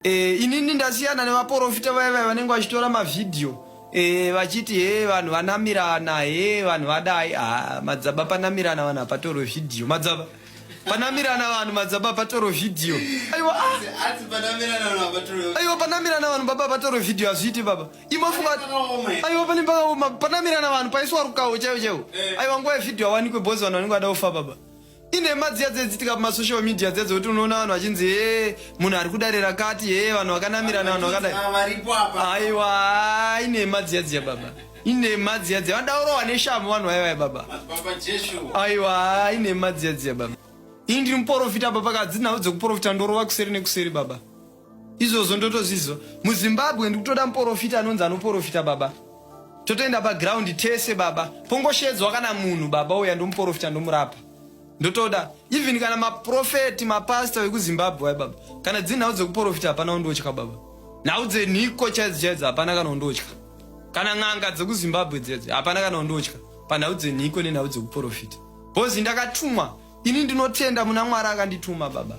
E, inini ndasiyana nevaporofita vaya vaya vanenge vachitora mavhidhiyo e, vachiti he vanhu vanamirana he vanhu vadai ah, madzaba panamirana vanhu hapatorwe vhidhiyo madzaba panamirana vanhu madzaba patorwe vhidhiyo aiwa ah. aiwa panamirana vanhu baba patorwe vhidhiyo hazviiti baba imofunga aiwa pane pakaoma panamirana vanhu paiswa rukawo chaiwo chaiwo eh. aiwa nguva yevhidhiyo awanikwe bhozi vanhu vanenge vada kufa baba inhema dziya dzaidzitika pamasocial media dziya dzekuti unoona vanhu vachinzi hee munhu ari kudare rakati hee vanhu vakanamirana vanhu vakadai Ah, varipo apa aiwa ah, inhema dziya dziya baba inhema dziya dziya vanoda kurohwa neshamhu vanhu vaivaya baba madzibaba jeshu aiwa ah, inhema dziya dziya baba ini ndiri muporofita baba kadzi nhau dzekuporofita ndorova kuseri nekuseri baba izvozvo ndotozviziva muzimbabwe ndikutoda muporofita anonzi anoporofita baba totoenda paground tese baba pongoshedzwa kana munhu baba uya ndomuporofita ndomurapa ndotoda even kana maprofeti mapasta vekuzimbabwe wai baba kana dziri nhau dzekuporofita hapana undotya baba nhau dzenhiko chaidzo chaidzo hapana kana undotya kana n'anga dzekuzimbabwe dzedzo hapana kana undotya panhau dzenhiko nenhau dzekuporofita bhozi ndakatumwa ini ndinotenda muna mwari akandituma baba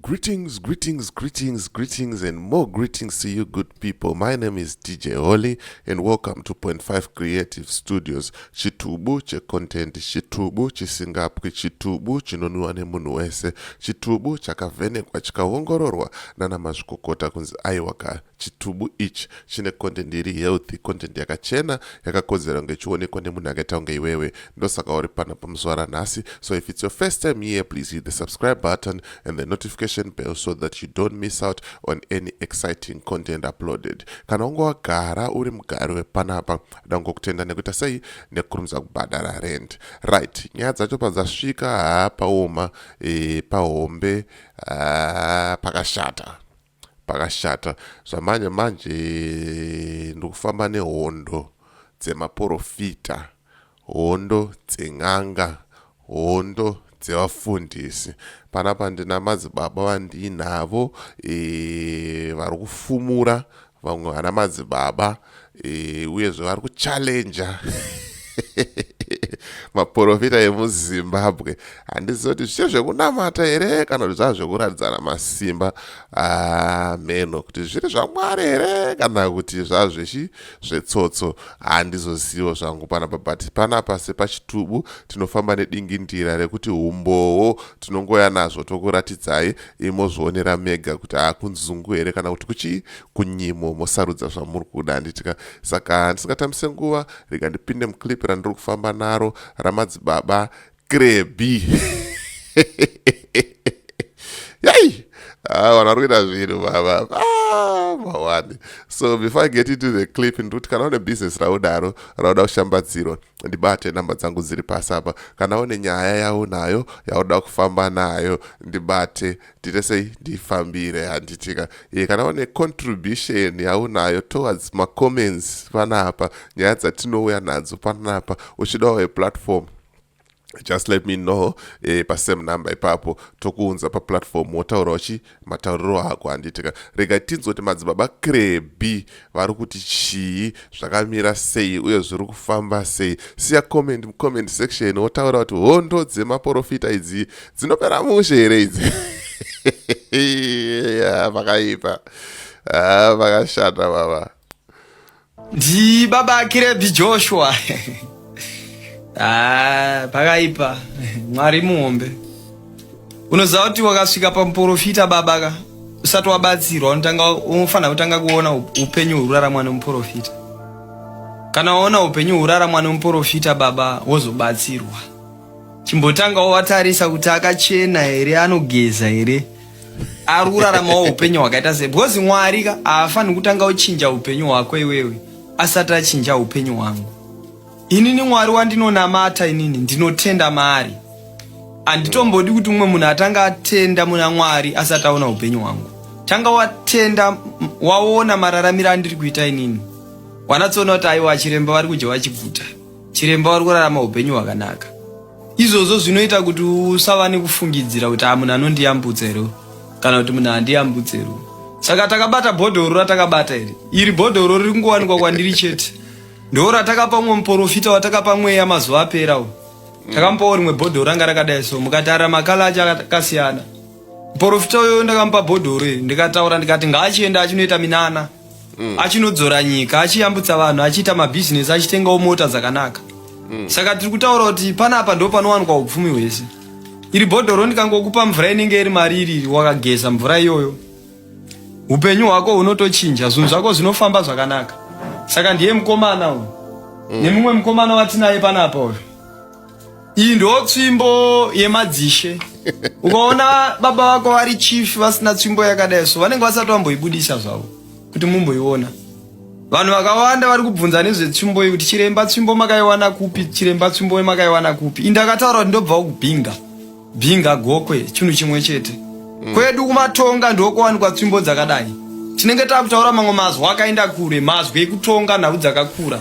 Greetings, greetings, greetings, greetings, and more greetings to you, good people. My name is DJ Holly, and welcome to Point Five Creative Studios. Chitubu che content, chitubu chisingapwi, chitubu chinonwiwa nemunhu wese, chitubu chakavhenekwa chikaongororwa nana mazvikokota kunzi aiwaka Chitubu ichi chine content iri healthy, content yakachena yakakodzera kunge ichionekwa nemunhu akaita kunge iwewe. Ndosaka uri pano pamuzuva ranhasi. So if it's your first time here, please hit the subscribe button and the notification bell so that you don't miss out on any exciting content uploaded. Kana unge wagara uri mugari wepanapa, ndangokutenda nekuita sei nekurumidza kubhadhara rent. Right, nyaya dzacho padzasvika, haa paoma, e, pahombe, haa pakashata. Pakashata zvamhanya manje ndokufamba nehondo dzemaporofita, hondo dzen'anga, hondo dzevafundisi. Panapa ndina madzibaba vandiinavo e, vari kufumura vamwe vana madzibaba e, uyezve vari kuchallenja maporofita emuzimbabwe handizivi kuti zvichiri zvekunamata here kana kuti zvava zvekuratidzana masimba ameno ah, kuti zviri zvamwari here kana kuti zvava zvechi zvetsotso handizozivo zvangu panapa but panapa sepachitubu tinofamba nedingindira rekuti umbowo tinongoya nazvo tokuratidzai imozvionera mega kuti akunzungu ah, here kana kuti kuchii kunyimo mosarudza zvamuri kuda handitika saka handisingatambise nguva rega ndipinde muclip randiri kufamba naro ramadzibaba krebi yai ah, vanhu vari kuita zvinhu baba ah, mawani so before i get into the clip ndikuti kana une business raudaro rauda kushambadzirwa ndibate namba dzangu dziri pasi apa kana une nyaya yaunayo yauda kufamba nayo ndibate ndiite sei ndifambire handitika e, kana une contribution yaunayo towards macomments panapa nyaya dzatinouya nadzo panapa uchidawo eplatform just let me know eh, pasame number ipapo tokuunza paplatform wotaura uchi matauriro ako handitika rega tinzoti madzibaba krebi vari kuti chii zvakamira sei uye zviri kufamba sei siya comment mucomment section wotaura kuti hondo dzemaporofita idzi dzinopera mushe here idzi vakaipa ah, vakashanda baba ndi baba akirebi joshua ah, pakaipa mwari muhombe unoziva kuti wakasvika pamuporofita baba ka usati wabatsirwa unotanga unofanira kutanga kuona upenyu hwuraramwa nemuporofita kana waona upenyu hwuraramwa nemuporofita baba wozobatsirwa chimbotanga watarisa kuti akachena here anogeza here ari kuraramawo upenyu hwakaita sei because mwari ka haafaniri kutanga uchinja upenyu hwako iwewe asati achinja upenyu hwangu Inini Mwari wandinonamata inini ndinotenda maari. Anditombodi kuti umwe munhu atanga atenda muna Mwari asati aona upenyu hwangu. Tanga watenda waona mararamiro andiri kuita inini. Wanatsoona kuti aiwa chiremba vari kudya vachiguta. Chiremba vari kurarama upenyu hwakanaka. Izvozvo zvinoita kuti usava nekufungidzira kuti amunhu ah, anondiyambutsa here kana kuti munhu handiyambutse here. Saka takabata bhodhoro ratakabata iri. Iri bhodhoro riri kungowanikwa kwandiri chete. Ndoo ratakapa umwe muporofita watakapa mweya mazuva apera uyu. Takamupawo rimwe bhodhoro ranga rakadai so mukatarira makala acho akasiyana. Muporofita uyo ndakamupa bhodhoro iri ndikataura ndikati ngaachienda achinoita minana. Mm. Achinodzora nyika, achiyambutsa vanhu, achiita mabhizinesi, achitengawo mota dzakanaka. Mm. Saka tiri kutaura kuti panapa ndo panowanikwa upfumi hwese. Iri bhodhoro ndikangokupa mvura inenge iri mari iri wakageza mvura iyoyo. upenyu hwako hunotochinja zvinhu zvako zvinofamba zvakanaka saka ndiye mukomana uyu mm. nemumwe mukomana watinaye panapa uyu iyi ndo tsvimbo yemadzishe ukaona baba vako vari chief vasina tsvimbo yakadai so vanenge vasati vamboibudisa zvavo kuti mumboiona vanhu vakawanda vari kubvunza nezvetsvimbo iyi kuti chiremba tsvimbo makaiwana kupi chiremba tsvimbo makaiwana kupi indakataura kuti ndobva ukubhinga Binga gokwe chinhu chimwe chete. Mm. Kwedu kumatonga ndokuwanikwa tsvimbo dzakadai. Tinenge takutaura mamwe mazwi akaenda kure, mazwi ekutonga nhau dzakakura.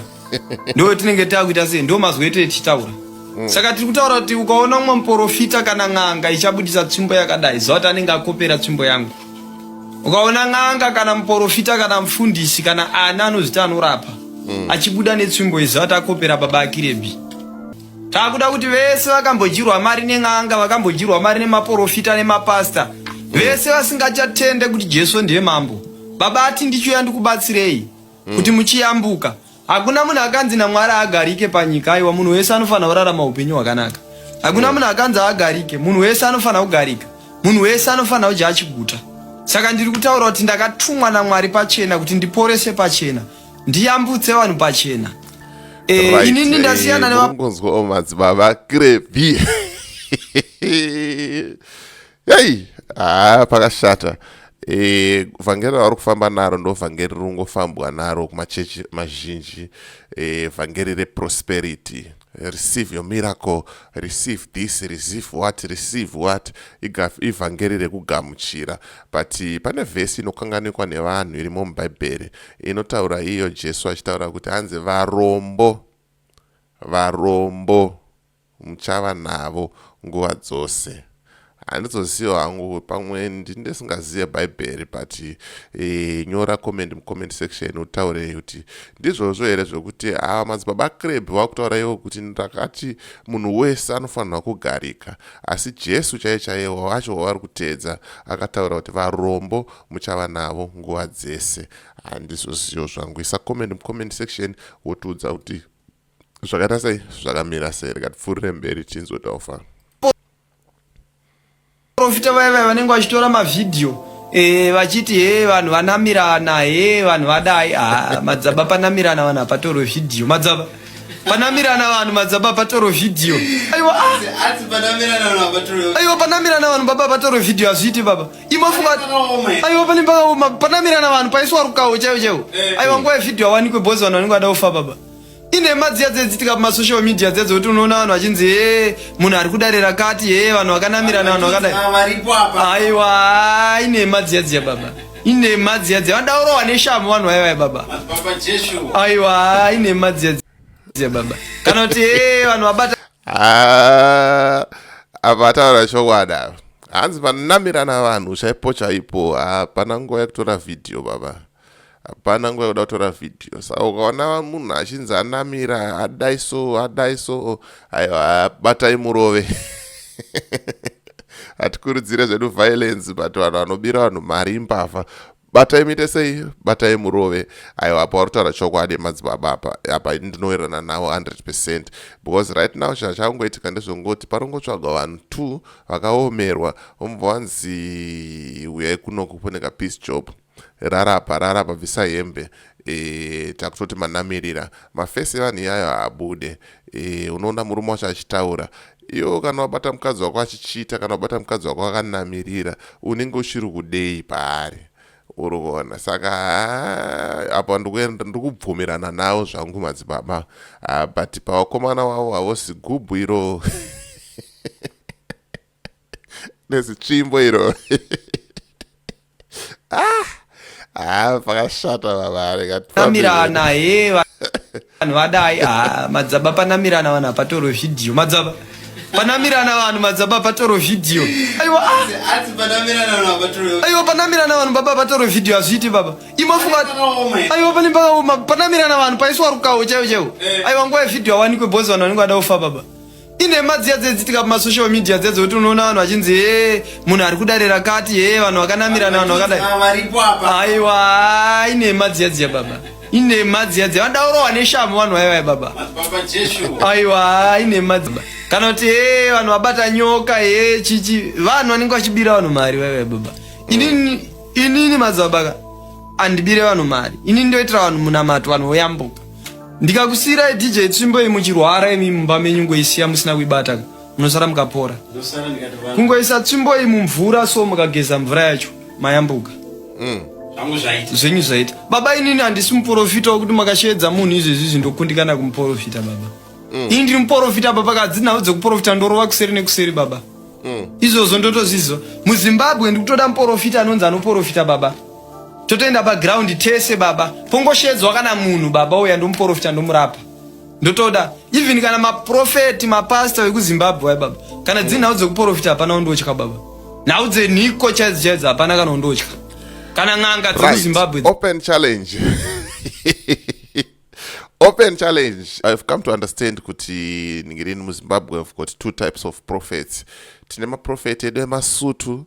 Ndo tinenge takuita sei? Ndo mazwi ete tichitaura. Mm. Saka tiri kutaura kuti ukaona umwe muporofita kana n'anga ichabudisa tsvimbo yakadai, ziva kuti anenge akopera tsvimbo yangu. Ukaona n'anga kana muporofita kana mufundisi kana ana anozvita anorapa, mm. achibuda netsvimbo iziva kuti akopera baba akirebi. Takuda kuti vese vakambodyirwa mari nen'anga, vakambodyirwa mari nemaporofita nemapasta, vese vasingachatende kuti Jesu ndiye mambo. Baba ati ndichiuya ndikubatsirei hmm. kuti muchiyambuka. Hakuna munhu akanzi naMwari agarike panyika, aiwa munhu wese anofanira kurarama upenyu hwakanaka. Hakuna hmm. munhu akanzi agarike, munhu wese anofanira kugarika. Munhu wese anofanira kudya achiguta. Saka ndiri kutaura kuti ndakatumwa naMwari pachena kuti ndiporese pachena. ndiyambutse vanhu pachena eh, right. inini ndasiyana eh, nevangonzwa o madzibaba krepi yai haa ah, pakashata e, vhangeri ravari kufamba naro ndo vhangeri rinongofambwa naro kumachechi mazhinji e, vhangeri reprosperity e, receive your miracle receive this receive what receive what ivhangeri rekugamuchira but pane vhesi inokanganikwa nevanhu irimo mubhaibheri inotaura iyo jesu achitaura kuti hanzi varombo varombo muchava navo nguva dzose handizoziva hangu pamwe ndindesingazive bhaibheri but e, nyora comment mucomment section utaure kuti ndizvozvo here zvekuti ava madzibaba creb vakutaura ivo kuti ndakati munhu wese anofanirwa kugarika asi jesu chaiye chaiye wacho wavari kuteedza akataura kuti varombo muchava navo nguva dzese handizozivo zvangu isa comment mucomment section wotiudza kuti zvakaita sei zvakamira sei rikatipfuurire mberi tinzwe tofa profita vaya vaya vanenge vachitora mavhidhiyo eh, vachiti he vanhu vanamirana he vanhu vadai ah, madzaba panamirana vanhu hapatorwe vhidhiyo madzaba panamirana vanhu madzaba patoro vhidhiyo aiwa ah. aiwa panamirana vanhu baba patoro vhidhiyo hazviiti baba imofunga aiwa pane pakaoma panamirana vanhu paiswa rukawo chaiwo chaiwo eh. aiwa nguva yevhidhiyo awanikwe bhozi vanhu vanenge vada kufa baba inhema dziya dzaidzitika pamasocial media dziya dzekuti unoona vanhu vachinzi hee munhu ari kudare rakati hee vanhu vakanamirana vanhu vakadai aiwa inhema dziya dziya baba inhema dziya dziya vanoda urohwa neshamhu vanhu vaivai baba aiwa inhema dziya dziya baba kana kuti hee vanhu vabata ah, avataura chokwadi ava hanzi vanamirana vanhu chaipo chaipo hapana ah, nguva yekutora vhidhiyo baba hapana nguva yekuda kutora vhidhiyo sa ukaona munhu achinzi anamira hadai so hadai so aiwa batai murove hatikurudzire zvedu violence but vanhu vanobira vanhu mari imbavha batai muite sei batai murove aiwa apa wari kutaura chokwadi madzibaba apa apa ini ndinowirirana nawo 100 percent because right now chinhu chakungoitika ndezvongoti paringotsvagwa vanhu two vakaomerwa omubva wanzi uyai kunoku kune kapeace job Rarapa rarapa bvisa hembe e, takutoti manamirira mafesi evanhu iyayo haabude e, unoona murume wacho achitaura iwo kana wabata mukadzi wako achichiita kana wabata mukadzi wako akanamirira unenge uchiri kudei paari uri kuona saka apa ndikubvumirana nawo zvangu madzibaba ah, but pavakomana wavo havosi gubhu iro nezitsvimbo iro ah, ah, pakashata vavarenamirana he vanhu vadai ah, madzaba panamirana vanhu hapatoro vhidhiyo madzaba panamirana vanhu madzaba patoro vhidhiyo aiwa aiwa panamirana vanhu baba patoro vhidhiyo hazviiti baba imofunga aiwa pane pakaoma panamirana vanhu paiswa rukawo chaiwo chaiwo aiwa nguva yevhidhiyo awanikwe bhozi vanhu vanenge vada kufa baba inhema dziya dzaidzitika pamasocial media dziya dzekuti unoona vanhu vachinzi hee munhu ari kudare rakati hee vanhu vakanamirana vanhu vakadai aiwa inhema dziya dziya baba inhema dziya dziya vanoda kurohwa neshamhu vanhu vaivai baba aiwa inhema dziya kana kuti hee vanhu vabata nyoka hee chichi vanhu vanenge vachibira vanhu mari vaivai baba inini inini madzibabaka andibire vanhu mari inini ndoitira vanhu munamato vanhu voyambuka ndikakusiirai dj tsvimbo iyi muchirwara imi mumba menyu ngoisiya musina kuibata munosara mukapora kungoisa tsvimbo iyi mumvura so mukageza mvura yacho mayambuka mm. zvenyu zvaita baba inini handisi muporofita wekuti makasheedza munhu izvezvi izvi ndokundikana kumuporofita baba mm. ini ndiri muporofita baba kadzi nhau dzekuporofita ndorova kuseri nekuseri baba mm. izvozvo ndotozviziva muzimbabwe ndikutoda muporofita anonzi anoporofita baba totoenda paground tese baba pongoshedzwa kana munhu baba uya ndomuporofita ndomurapa ndotoda even kana maprofeti mapasta vekuzimbabwe wai baba kana dziri nhau dzekuporofita hapana undotya baba nhau dzenhiko chaidzo chaidzo hapana kana undotya kana n'anga dzekuzimbabwe right. open challenge open challenge ihave come to understand kuti ningirini muzimbabwe have got two types of prophets tine maprofeti edu emasutu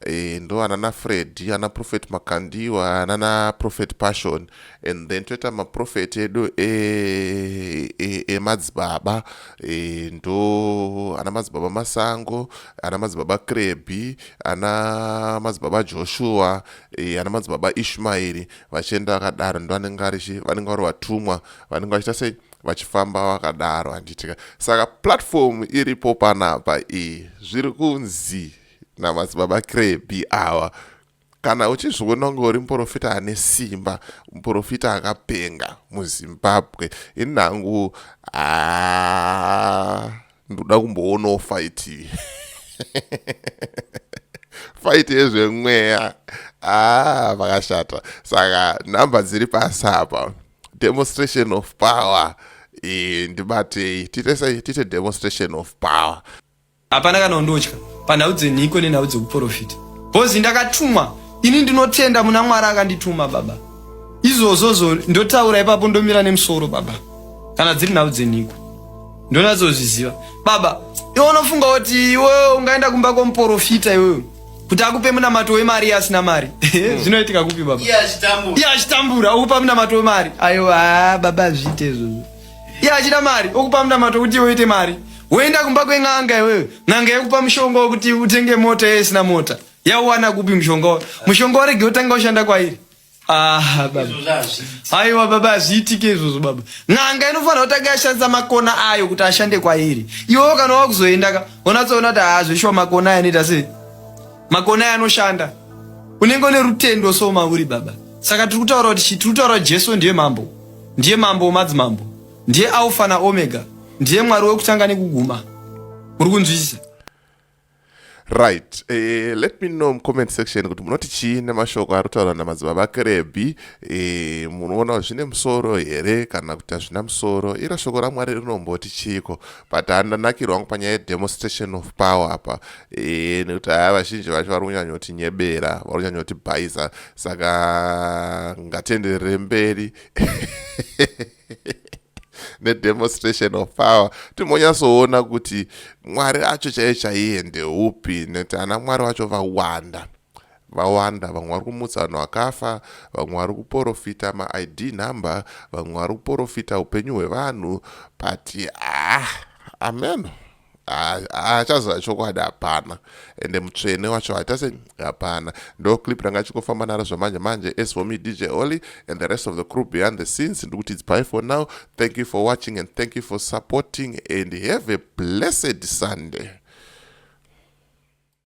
e, ndo anana fred ana profet makandiwa anana profet passion and then toita maprofeti edu emadzibaba e, e, e, ndo ana madzibaba masango ana madzibaba krebi ana madzibaba joshua e, ana madzibaba ishmaeri vachienda vakadaro ndovanenge varichi vanenge vari vatumwa vanenge vachiita sei vachifamba vakadaro handitika saka platform iripo panapa iyi zviri kunzi namadzibaba krebi awa kana uchizviona kunge uri muprofita ane simba muprofita akapenga muzimbabwe ini nangu aa ah, ndoda kumboonawo fight iyi fight yezvemweya ah vakashata saka number dziri pasi apa demonstration of power iyi ndibatei titese tite demonstration of power hapana kana undotya panhau dzenhiko nenhau dzekuprofita bhozi ndakatumwa ini ndinotenda muna mwari akandituma baba izvozvozvo ndotaura ipapo ndomira nemusoro baba kana dziri nhau dzenhiko ndonatsozviziva baba iwe unofunga kuti iwewe ungaenda kumba kwomuporofita iwewe kuti akupe munamato wemari iye asina mari Hmm. zvinoitika kupi baba Iye achitambura. iye achitambura okupa munamato wemari ayo haa baba azviite izvozvo iye achida mari okupa munamato kuti iwe uite mari woenda kumba kwen'anga iwewe n'anga yokupa mushonga wokuti utenge mota iye isina mota yauwana kupi mushonga wayo mushonga warege utanga ushanda kwairi Ah, baba. Aiwa baba hazviitike izvozvo baba. N'anga inofanira kutanga yashandisa makona ayo kuti ashande kwairi. Iwewo kana wakuzoenda ka unatsoona kuti haazvishuwa makona ayo anoita sei? Makona ayo anoshanda. Unenge une rutendo so mauri baba. Saka tiri kutaura kuti chii? Tiri kutaura kuti Jesu ndiye mambo. Ndiye mambo wemadzimambo. Ndiye Alpha naOmega. Ndiye Mwari wekutanga nekuguma. Muri kunzwisisa? right eh, let me know mucomment section kuti munoti chii nemashoko ari kutaurwa namadzibaba vakerebhi eh, munoona zvine musoro here kana kuti hazvina musoro iro shoko ramwari rinomboti chiiko but handanakirwa wangu panyaya yedemonstration of power apa eh, nekuti haya vazhinji vacho vari kunyanyoti nyebera vari kunyanyoti bhaiza saka ngatenderere mberi nedemonstration of power timbonyatsoona kuti mwari acho chaiye chaiye ndeupi nekuti ana mwari vacho vawanda vawanda vamwe vari kumutsa vanhu vakafa vamwe vari kuporofita maid number vamwe vari kuporofita upenyu hwevanhu but ah ameno achaziva chokwadi hapana ende mutsvene wacho haita se hapana ndo clip ranga achikofamba naro zvamanje manje as for me dj oly and the rest of the crew behind the scenes ndikuti its bye for now thank you for watching and thank you for supporting and have a blessed sunday